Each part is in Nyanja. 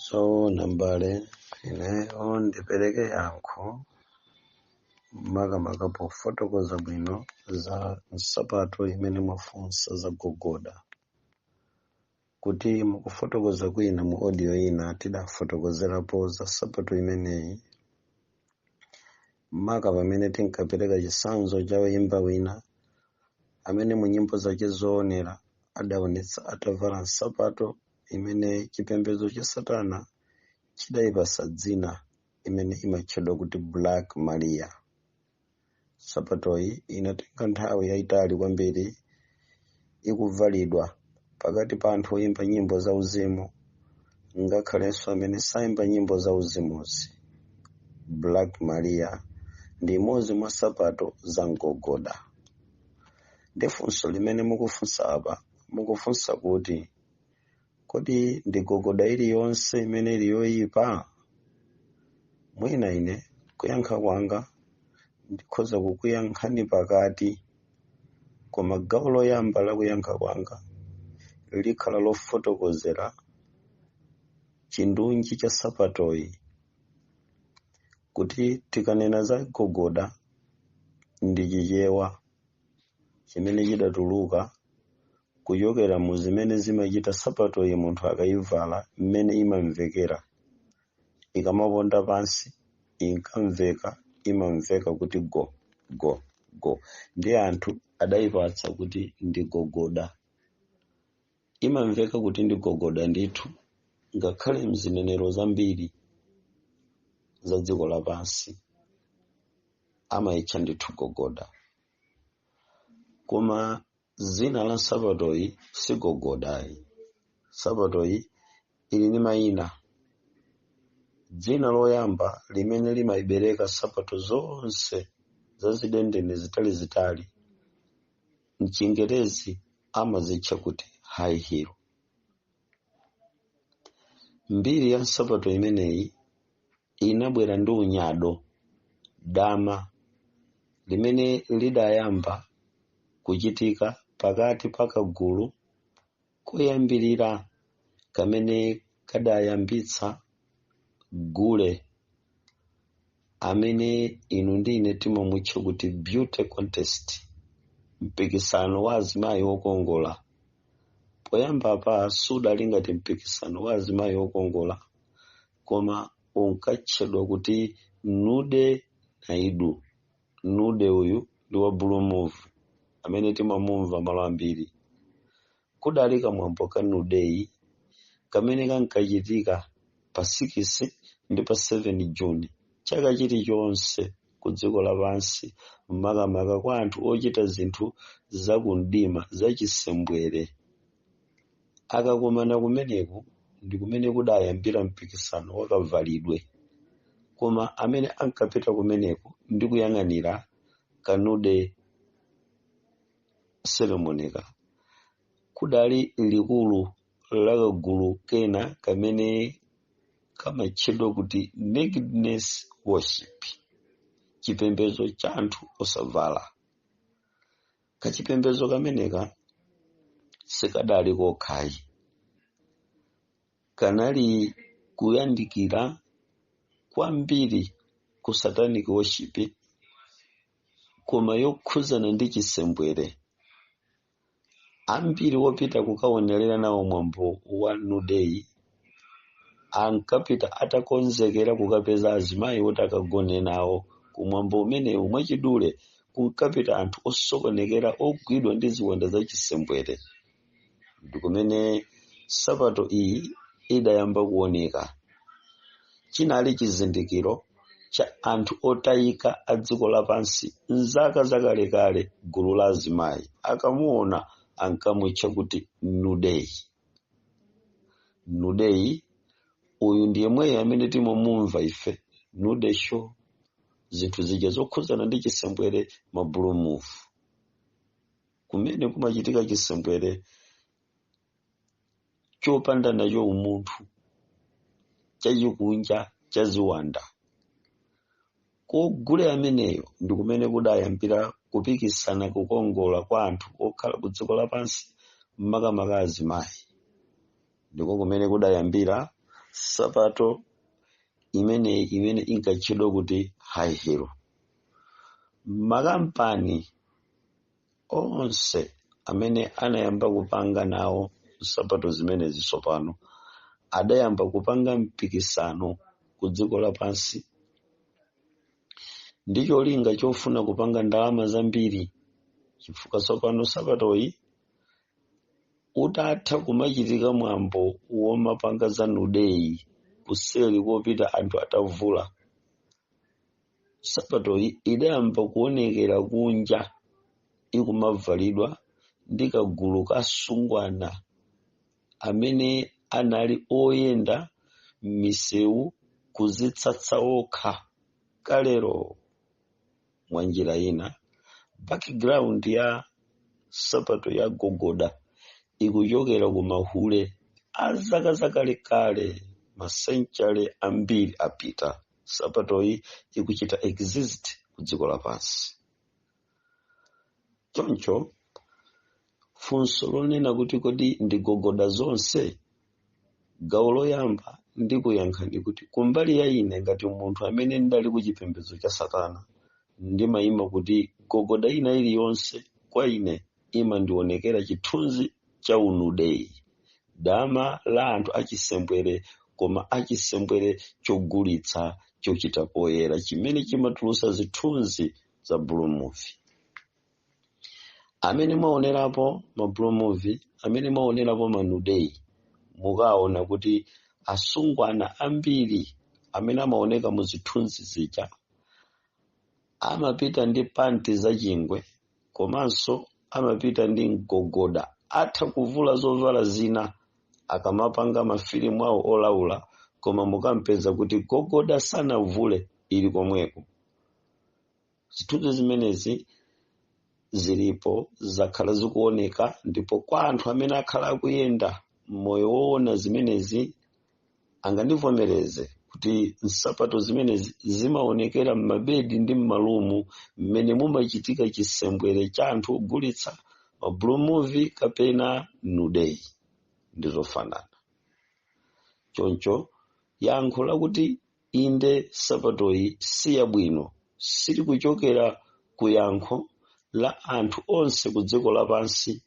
zoona mbale ineyo ndipereke yankho makamaka pofotokoza bwino za nsapato imene mwafunsa za gogoda kuti mukufotokoza kwina mu audio ina tidafotokozerapo za nsapato imeneyi maka pamene tinkapereka chitsanzo cha woyimba wina amene mu nyimbo zake zoonera adaonetsa atavala nsapato imene chipembedzo cha satana chidayipasa dzina imene imatchedwa kuti black maria nsapatoyi inatenga nthawi yayitali kwambiri ikuvalidwa pakati pa anthu oyimba nyimbo za uzimu ngakhalenso amene sayimba nyimbo za uzimuzi black maria ndi imodzi mwa sapato za gogoda ndi funso limene mukufunsa apa mukufunsa kuti kodi ndi gogoda iliyonse imene ili yoyipa mwina ine kuyankha kwanga ndikhoza kukuyankhani pakati koma gawo loyamba la kuyankha kwanga likhala lofotokozera chindunji cha sapatoyi kuti tikanena za gogoda ndi chichewa chimene chidatuluka kuchokera mu zimene zimachita sapatoyi munthu akayivala mmene imamvekera ikamaponda pansi inkamveka imamveka kuti go go go ndi anthu adayipatsa kuti ndi gogoda imamveka kuti ndi gogoda ndithu ngakhale mzinenero zambiri za dziko lapansi amayitcha ndithu gogoda koma dzina la nsapatoyi si gogoda ayi nsapatoyi ili ndi mayina dzina loyamba limene limayibereka nsapato zonse zazidendene zitalizitali mchingerezi amazitcha kuti high heel mbiri ya nsapato imeneyi inabwera ndi unyado, dama limene lidayamba kuchitika pakati pa kagulu koyambirira kamene kadayambitsa gule amene inu ndi ine timamutcha kuti beauty contest mpikisano wa azimayi okongola poyambapa sudali ngati mpikisano wa azimayi okongola koma unkatchedwa kuti nude night nude uyu ndi wa blue movie amene timamumva malo ambiri kudali kamwambo ka nudeyi kamene kankachitika pa 6 ndi pa 7 juni chaka chilichonse ku dziko lapansi makamaka kwa anthu ochita zinthu za kumdima zachisembwere Akakumana kumeneko ndi kumene kudayambira mpikisano wa kavalidwe koma amene ankapita kumeneko ndi kuyang'anira Kanude Ceremonyka kudali likulu la kagulu kena kamene kamatchedwa kuti Nakedness Worship, chipembedzo cha anthu osavala. kachipembedzo kameneka sikadali kokha ayi kanali kuyandikira kwambiri ku satanic worship koma yokhudzana ndi chisembwere ambiri opita kukaonerera nawo mwambo wa nudeyi ankapita atakonzekera kukapeza azimayi oti akagone nawo kumwambo umenewu mwachidule kunkapita anthu osokonekera ogwidwa ndi ziwanda za chisembwere ndi kumene nsapato iyi idayamba kuoneka chinali chizindikiro cha anthu otayika a dziko lapansi mzaka zakalekale gulu la azimayi akamuona ankamutcha kuti nudeyi nudeyi uyu ndi yemweyo amene timamumva ife nude show zinthu zija zokhudzana ndi chisembwere ma blue movie kumene kumachitika chisembwere chopanda nacho umunthu chachikunja chaziwanda Ku gule ameneyo ndi kumene kudayambira kupikisana kukongola kwa anthu okhala ku dziko lapansi, makamaka azimayi. Ndiko kumene kudayambira nsapato imeneyi imene inkatchedwa kuti high heel. Makampani onse amene anayamba kupanga nawo nsapato zimenezi tsopano adayamba kupanga mpikisano ku dziko lapansi ndi cholinga chofuna kupanga ndalama zambiri chifukwa tsopano nsapatoyi utatha kumachitika mwambo womapanga za nudeyi kuseri kopita anthu atavula sapatoyi idayamba kuonekera kunja ikumavalidwa ndi kagulu ka asungwana amene anali oyenda m'misewu kuzitsatsa okha kalero mwa njira ina background ya sapato ya gogoda ikuchokera ku mahule a zaka zakalekale masenchale ambiri apita sapatoyi ikuchita exist ku dziko lapansi choncho funso lonena kuti kodi ndi gogoda zonse gawo loyamba ndikuyankhani kuti kumbali ya ine ngati munthu amene ndidali ku chipembedzo cha satana ndimayima kuti gogoda ina iliyonse kwa ine imandionekera chithunzi cha unudeyi dama la anthu achisembwere koma achisembwere chogulitsa chochita poyera chimene chimatulusa zithunzi za blue movie amene mwaonerapo ma blue movie amene mwaonerapo manudeyi mukaona kuti asungwana ambiri amene amaoneka mu zithunzi zija amapita ndi panti za chingwe komanso amapita ndi gogoda atha kuvula zovala zina akamapanga mafilimu awo olaula koma mukampeza kuti gogoda sanavule ili komweko zithunzi zimenezi zilipo zakhala zikuoneka ndipo kwa anthu amene akhala akuyenda moyo woona zimenezi angandivomereze kuti nsapato zimene zi- zimaonekera m'mabedi ndi m'malumu mmene mumachitika chisembwere cha anthu ogulitsa ma blue movie kapena nudeyi ndi zofanana choncho yankho lakuti inde sapatoyi si yabwino silikuchokera ku yankho la anthu onse ku dziko lapansi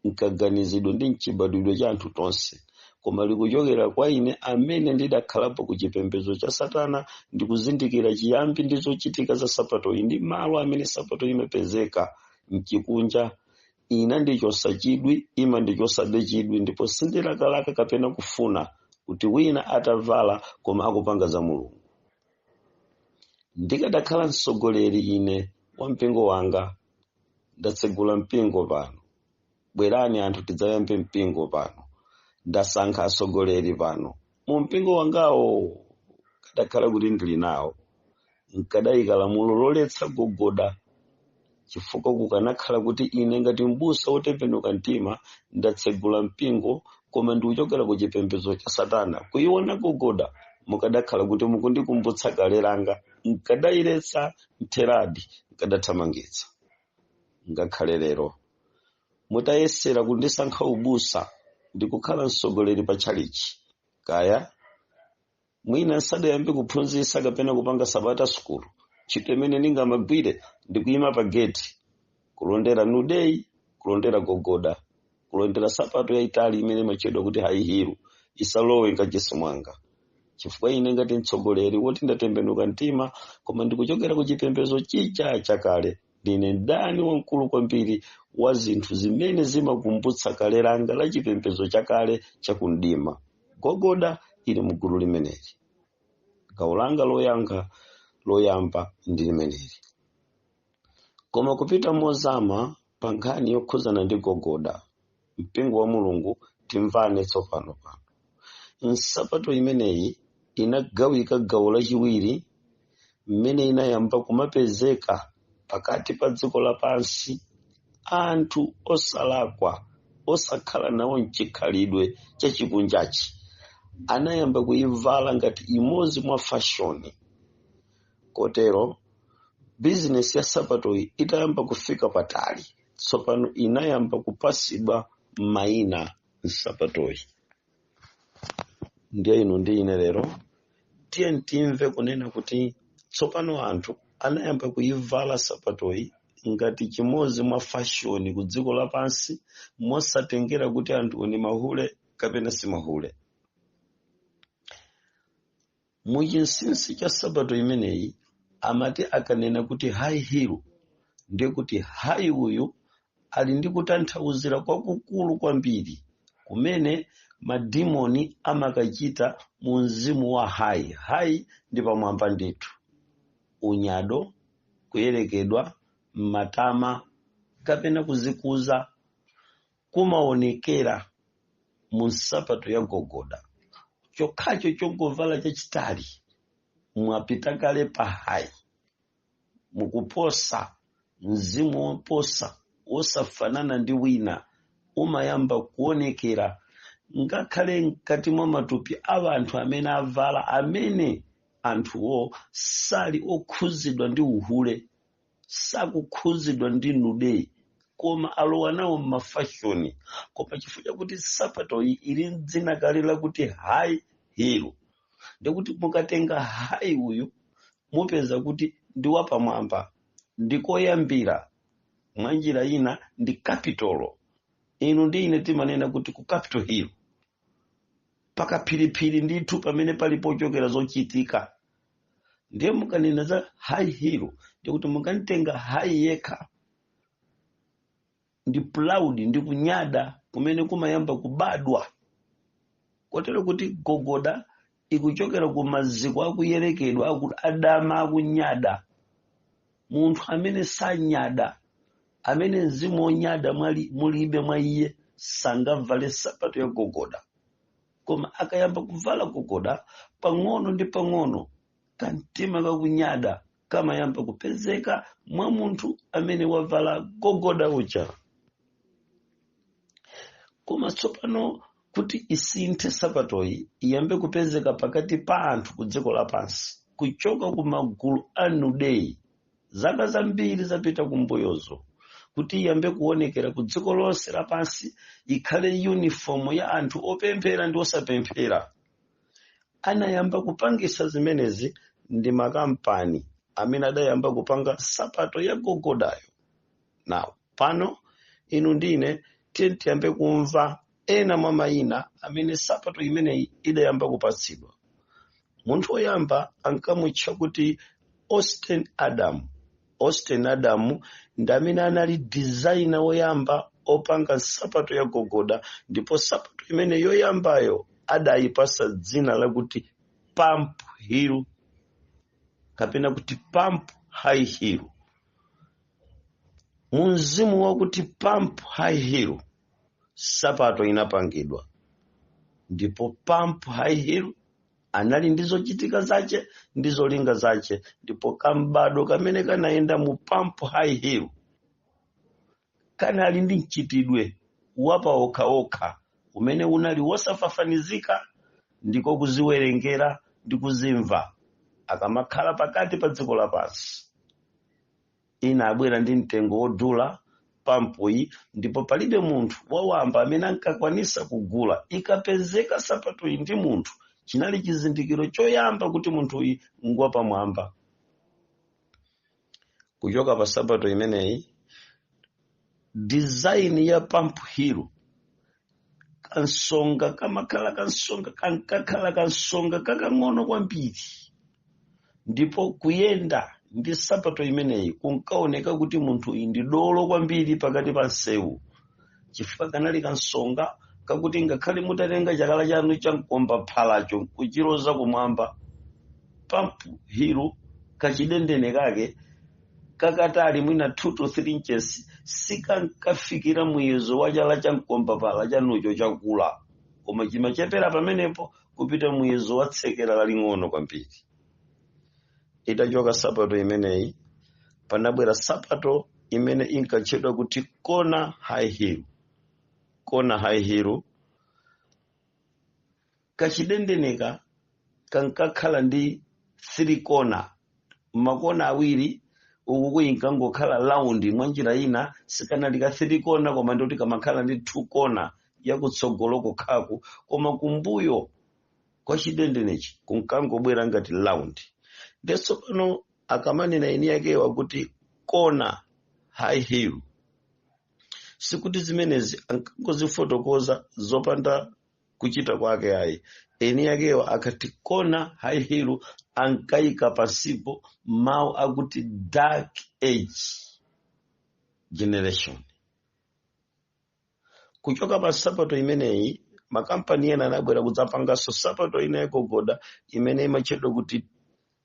mkaganizidwe ndi mchibadwidwe cha anthu tonse koma likuchokera kwa ine amene ndidakhalapo ku chipembedzo cha satana ndikuzindikira chiyambi ndi zochitika za sapatoyi ndi malo amene sapatoyi imapezeka mchikunja inandichosa chidwi imandichosabe chidwi ndipo sindilakalaka kapena kufuna kuti wina atavala koma akupanga za mulungu ndikadakhala mtsogoleri ine wa mpingo wanga ndatsegula mpingo pano bwerani anthu tidzayambe mpingo pano ndasankha atsogoleri pano mu mpingo wangawo kadakhala kuti ndili nawo nkadayika lamulo loletsa gogoda chifukwa kukanakhala kuti ine ngati mbusa wotembenuka mtima ndatsegula mpingo koma ndikuchokera ku chipembedzo cha satana kuyiona gogoda mukadakhala kuti mukundikumbutsa kale langa nkadayiletsa mtheradi nkadathamangitsa ngakhale lero mutayesera kundisankha ubusa ndi kukhala mtsogoleri pa tchalichi kaya mwina nsadayambe kuphunzitsa kapena kupanga sabata sukulu ntchito imene ndingamagwire ndi kuyima pa geti kulondera nudity kulondera gogoda kulondera nsapato yayitali imene imatchedwa kuti high heel isalowe nkachisi mwanga chifukwa ine ngati mtsogoleri woti ndatembenuka mtima koma ndikuchokera ku chipembedzo chija chakale ndine mdani wamkulu kwambiri wa zinthu zimene zimakumbutsa kale langa la chipembedzo chakale chakumdima gogoda ili mu gulu limeneli gawo langa loyankha loyamba ndi limeneli koma kupita mozama pa nkhani yokhudzana ndi gogoda mpingo wa mulungu timvane tsopano pano nsapato imeneyi inagawika gawo lachiwiri mmene inayamba kumapezeka pakati pa dziko lapansi anthu osalakwa osakhala nawo mchikhalidwe chachikunjachi anayamba kuyivala ngati imodzi mwa fashoni kotero bizinesi ya nsapatoyi itayamba kufika patali tsopano inayamba kupasidwa mayina nsapatoyi ndiye inu ndi ine lero tiyeni timve kunena kuti tsopano anthu anayamba kuyivala nsapatoyi ngati chimodzi mwa fashoni ku dziko lapansi mosatengera kuti anthu ni mahule kapena si mahule mu chinsinsi cha nsapato imeneyi amati akanena kuti high heel ndiye kuti high uyu ali ndi kutanthauzira kwakukulu kwambiri kumene madimoni amakachita mu mzimu wa high high ndi pamwamba ndithu unyado kuyerekedwa matama kapena kuzikuza kumaonekera mu nsapato ya gogoda chokhacho chongovala chachitali mwapita kale pa high mukuposa mzimu woposa wosafanana ndi wina umayamba kuonekera ngakhale mkati mwa matupi a anthu amene avala amene anthuwo sali okhuzidwa ndi uhule sakukhudzidwa ndi nude koma alowa nawo m'mafashoni koma chifukwa chakuti nsapato iyi ili ndi dzina kale lakuti high heel ndikuti mukatenga high uyu mupeza kuti ndi wapamwamba ndikoyambira mwa njira ina ndi kapitolo inu ndi ine timanena kuti ku capital hill pakaphiriphiri ndithu pamene pali pochokera zochitika ndiye mukanena za high heel ndikuti mukanitenga high yekha ndi proud ndi kunyada kumene kumayamba kubadwa kotero kuti gogoda ikuchokera ku maziko akuyerekedwa akuti adama akunyada munthu amene sanyada amene mzimu wonyada mwali- mulibe mwa iye sangavale nsapato ya gogoda koma akayamba kuvala gogoda pang'ono ndi pang'ono kamtima kakunyada kamayamba kupezeka mwa munthu amene wavala gogoda uja koma tsopano kuti isinthe nsapatoyi iyambe kupezeka pakati pa anthu ku dziko lapansi kuchoka ku magulu a nudeyi zaka zambiri zapita kumbuyozo kuti iyambe kuonekera ku dziko lonse lapansi ikhale uniform ya anthu opemphera ndi osapemphera anayamba kupangisa zimenezi ndi makampani amene adayamba kupanga nsapato ya gogodayo now pano inu ndine tiyambe kumva ena mwa mayina amene nsapato imeneyi idayamba kupatsidwa munthu woyamba ankamutcha kuti austin adam austin adam ndi amene anali designer woyamba opanga nsapato ya gogoda ndipo nsapato imene yoyambayo adayipasa dzina lakuti pump heel kapena kuti pump high heel mu mzimu wakuti pump high heel nsapato inapangidwa ndipo pump high heel anali ndi zochitika zace ndi zolinga zace ndipo kambado kamene kanayenda mu pump high heel kanali ndi mchitidwe wapa okha okha umene unali wosafafanizika ndiko kuziwerengera ndi kuzimva akamakhala pakati pa dziko lapansi inabwera ndi mtengo wodula pampuyi ndipo palibe munthu wawamba amene ankakwanisa kugula ikapezeka nsapatoyi ndi munthu chinali chizindikiro choyamba kuti munthuyi ngwapamwamba kuchoka pa nsapato imeneyi design ya pump heel kansonga kamakhala kansonga kankakhala kansonga kakang'ono kwambiri ndipo kuyenda ndi nsapato imeneyi kunkaoneka kuti munthu uyu ndi dolo kwambiri pakati pa msewu chifukwa kanali kansonga kakuti ngakhale mutatenga chala chanu cha mkombaphalacho nkuchiloza kumwamba pump heel kachidendene kake kakatali mwina 2 to 3 inches sikankafikira muyezo wa chala cha mkombaphala chanucho chakula koma chimachepera pamenepo kupita muyezo wa tsekera laling'ono kwambiri itachoka sapato imeneyi panabwera sapato imene inkatchedwa kuti kona high heel kona high heel kachidendeneka kankakhala ndi three kona makona awiri uku kuyi nkangokhala round mwa njira ina sikanali ka three kona koma ndikuti kamakhala ndi two kona yakutsogolo kokhaku koma kumbuyo kwa chidendenechi kunkangobwera ngati round ndenso pano akamanena eni yakewa kuti kona high heel sikuti zimenezi ankangozifotokoza zopanda kuchita kwake ayi eni yakewo akati kona high heel ankayika pansipo mawu akuti dark age generation kuchoka pa sapato imeneyi makampani ena anabwera kudzapanganso sapato ina yagogoda imene imatchedwa kuti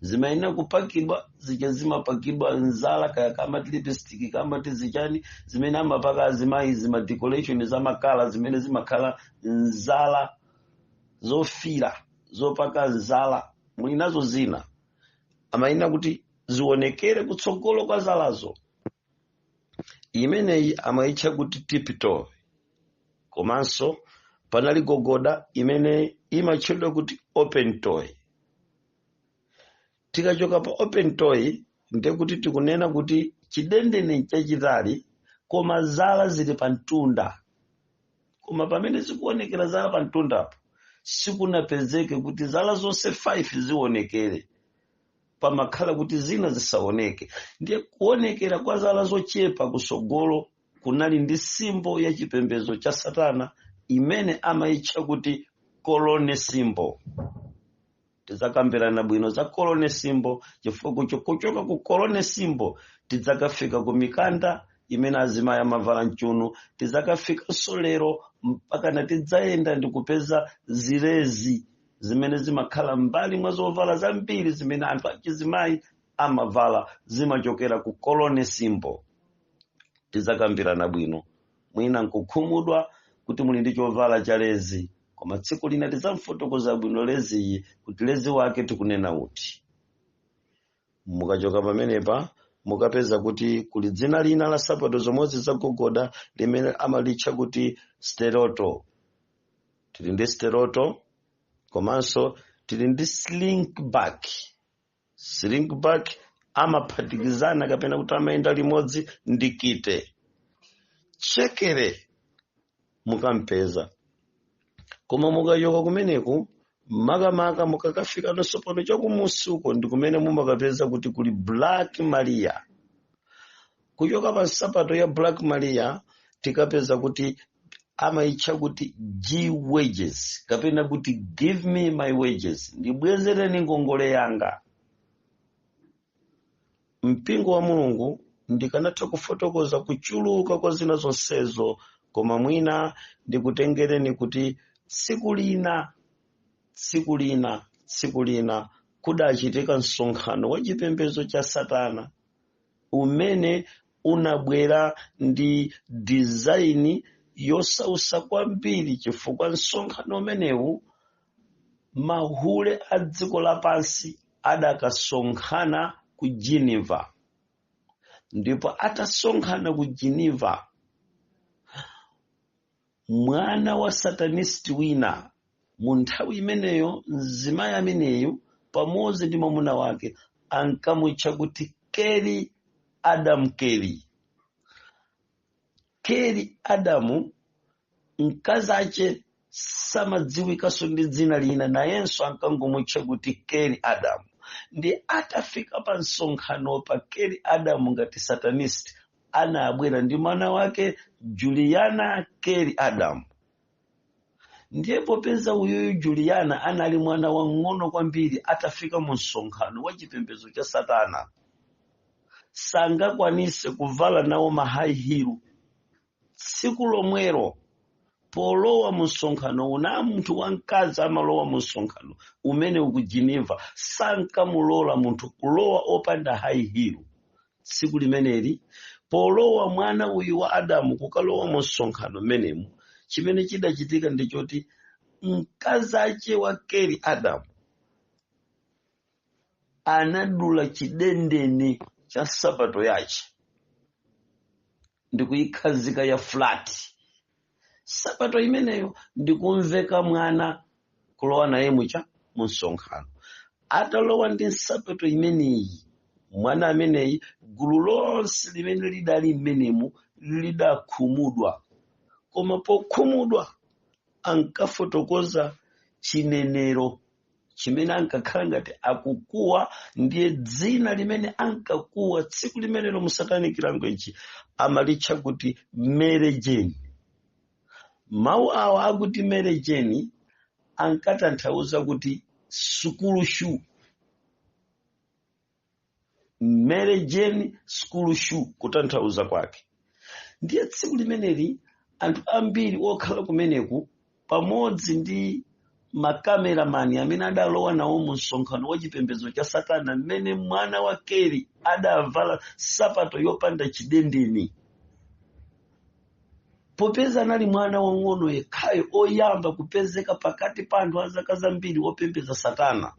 zimayenera kupakidwa zija zimapakidwa nzala kaya amati lipstick kaya amati zichani zimene amapaka azimayi zima decoration zamakala zimene zimakhala nzala zofira zopaka nzala muli nazo zina amayenera kuti zionekere kutsogolo kwa zalazo imeneyi amayitcha kuti tiptoe komanso panali gogoda imene imatchedwa kuti open toe tikachoka pa open toe ndiye kuti tikunena kuti chidendene chachitali koma zala zili pa mtunda koma pamene zikuonekera zala pa mtundapo sikunapezeke kuti zala zonse 5 zionekere pamakhala kuti zina zisaoneke ndiye kuonekera kwa zala zochepa kusogolo kunali ndi simbo ya chipembedzo cha satana imene amayitcha kuti kolone simbo tidzakambirana bwino za kolone simbo chifukwa kucho- kuchoka ku kolone simbo tidzakafika ku mikanda imene azimayi amavala mchunu tidzakafikanso lero mpakana tidzayenda ndi kupeza zilezi zimene zimakhala mbali mwa zovala zambiri zimene anthu achizimayi amavala zimachokera ku kolone simbo tidzakambirana bwino mwina nkukhumudwa kuti muli ndi chovala cha lezi koma tsiku lina tidzamfotokoza bwino leziyi kuti lezi wake tikunena uti mukachoka pamenepa mukapeza kuti kuli dzina lina la nsapato zomwezi zagogoda limene amalitcha kuti steroto tili ndi steroto komanso tili ndi slingback slingback amaphatikizana kapena kuti amayenda limodzi ndi kite chekere mukampeza koma mukachoka kumeneku makamaka mukakafika nsopano chakumusi uko ndi kumene mumakapeza kuti kuli black maria kuchoka pa nsapato ya black maria tikapeza kuti amaitcha kuti g wages kapena kuti give me my wages ndibwezereni ngongole yanga mpingo wa mulungu ndikanatha kufotokoza kuchuluka kwa zina zonsezo koma mwina ndikutengereni kuti tsiku lina tsiku lina tsiku lina kudachitika msonkhano wa chipembedzo cha satana umene unabwera ndi dizaini yosausa kwambiri chifukwa msonkhano umenewu mahule a dziko lapansi adakasonkhana ku geneva ndipo atasonkhana ku geneva mwana wa satanist wina mu nthawi imeneyo mzimayi ameneyu pamodzi ndi mwamuna wake ankamutcha kuti keli adamu keli keli adamu mkazi ache samadziwikanso ndi dzina lina nayenso ankangomutcha kuti keli adamu ndi atafika pa msonkhano apa keli adamu ngati satanist anabwera ndi mwana wake juliana keri adam ndiye popeza uyuyu juliana anali mwana wang'ono kwambiri atafika mu msonkhano wa chipembedzo cha satana sangakwanise kuvala nawo mahayihilu tsiku lomwero polowa mu msonkhano uja munthu wamkazi amalowa mu msonkhano umene uwu ku geneva sankamulola munthu kulowa opanda hayihilu tsiku limeneli polowa mwana uyu wa adamu kukalowa mu msonkhano mmenemu chimene chidachitika ndi choti mkazi ache wa keli adamu anadula chidendene cha nsapato yache ndikuyikhazika ya flat sapato imeneyo ndikumveka mwana kulowa naye mucha mu msonkhano atalowa ndi nsapato imeneyi mwana ameneyi gulu lonse limene lidali mmenemu lidakhumudwa koma pokhumudwa ankafotokoza chinenero chimene ankakhala ngati akukuwa ndiye dzina limene ankakuwa tsiku limenelo mu satanic language amalitcha kuti mary jane mawu awa akuti mary jane ankatanthauza kuti school shoe mary jane school shoe kutanthauza kwake ndiye tsiku limeneli anthu ambiri okhala kumeneku pamodzi ndi makameramani amene adalowa nawo mu msonkhano wa chipembedzo cha satana mmene mwana wa keri adavala sapato yopanda chidendeni popeza anali mwana wang'ono yekhayo oyamba kupezeka pakati pa anthu a zaka zambiri opembedza satana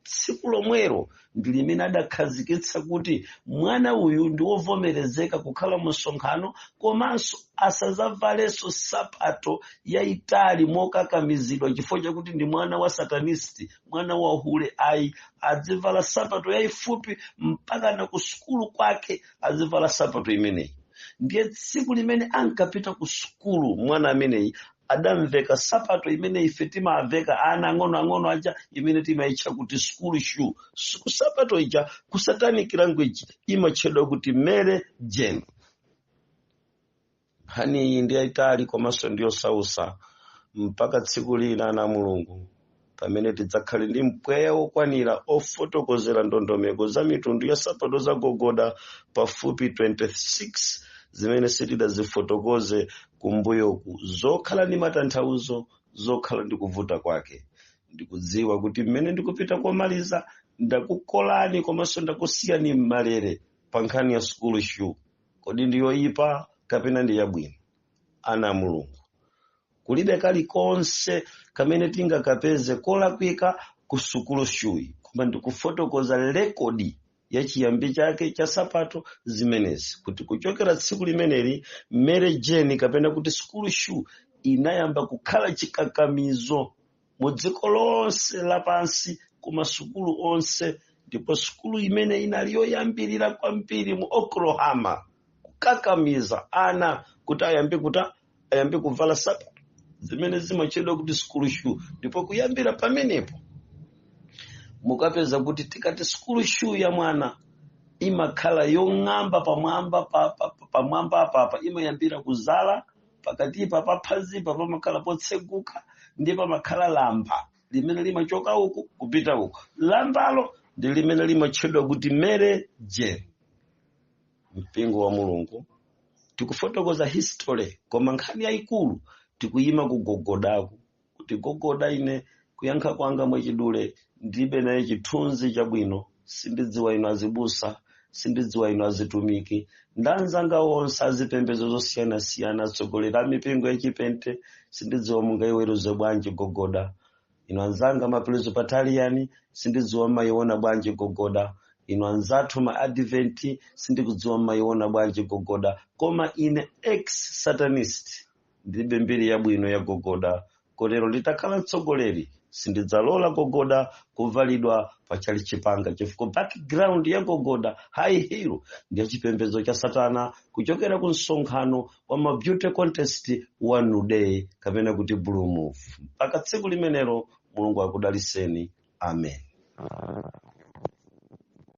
tsiku lomwelo ndi limene adakhazikitsa kuti mwana uyu ndi wovomerezeka kukhala mu msonkhano komanso asadzavalenso sapato yayitali mokakamizidwa chifukwa chakuti ndi mwana wa satanisti mwana wa hule ayi azivala sapato yayifupi mpaka na ku sukulu kwake azivala sapato imeneyi ndiye tsiku limene ankapita ku sukulu mwana ameneyi adamveka sapato imene ife timaveka ana ang'onoang'ono aja imene timaitcha kuti school shoe Siku sapato ija ku satanic language imatchedwa kuti mary jane nkhani iyi ndi yayitali komanso ndiyosausa mpaka tsiku lina ana a mulungu pamene tidzakhale ndi mpweya wokwanira ofotokozera ndondomeko za mitundu ya sapato za gogoda pafupi 26 zimene sitidazifotokoze kumbuyoku zokhala ndi matanthauzo zokhala ndi kuvuta kwake ndikudziwa kuti mmene ndikupita komaliza ndakukolani komanso ndakusiyani m'malere pa nkhani ya school shoe kodi ndi yoyipa kapena ndi yabwino ana a mulungu kulibe kalikonse kamene tingakapeze kolakwika ku school shoe koma ndikufotokoza lekodi ya chiyambi chake cha sapato zimenezi kuti kuchokera tsiku limeneli mary jane kapena kuti school shoe inayamba kukhala chikakamizo mu dziko lonse lapansi ku masukulu onse ndipo sukulu imene inali yoyambirira kwambiri mu oklahoma kukakamiza ana kuti ayambe kuta ayambe kuvala sapato zimene zimatchedwa kuti school shoe ndipo kuyambira pamenepo mukapeza kuti tikati school shoe ya mwana imakhala yong'amba pamwamba pa- pa- pa- pamwamba apapa imayambira kuzala pakatipa pa phazipa pamakhala potseguka ndiye pamakhala lamba limene limachoka uku kupita uku lambalo ndi limene limatchedwa kuti Mary Jane mpingo wa mulungu tikufotokoza history koma nkhani yayikulu tikuyima kugogodaku kuti gogoda ine kuyankha kwanga mwachidule ndibe naye chithunzi chabwino sindidziwa inu azibusa sindidziwa inu azitumiki ndi anzanga onse azipembedzo zosiyanasiyana atsogoleri a mipingo yachipente sindidziwa mungaiweruze bwanji gogoda inu anzanga ma presbyterian sindidziwa mmayiona bwanji gogoda inu anzathu ma advent sindikudziwa mmayiona bwanji gogoda koma ine ex satanist ndilibe mbiri yabwino ya gogoda kotero nditakhala mtsogoleri sindidzalola gogoda kuvalidwa pa chalichi panga chifukwa background ya gogoda high heel ndi ya chipembedzo cha satana kuchokera ku msonkhano wa ma beauty contest wa nude kapena kuti blue movie mpaka tsiku limenelo mulungu akudalitseni amen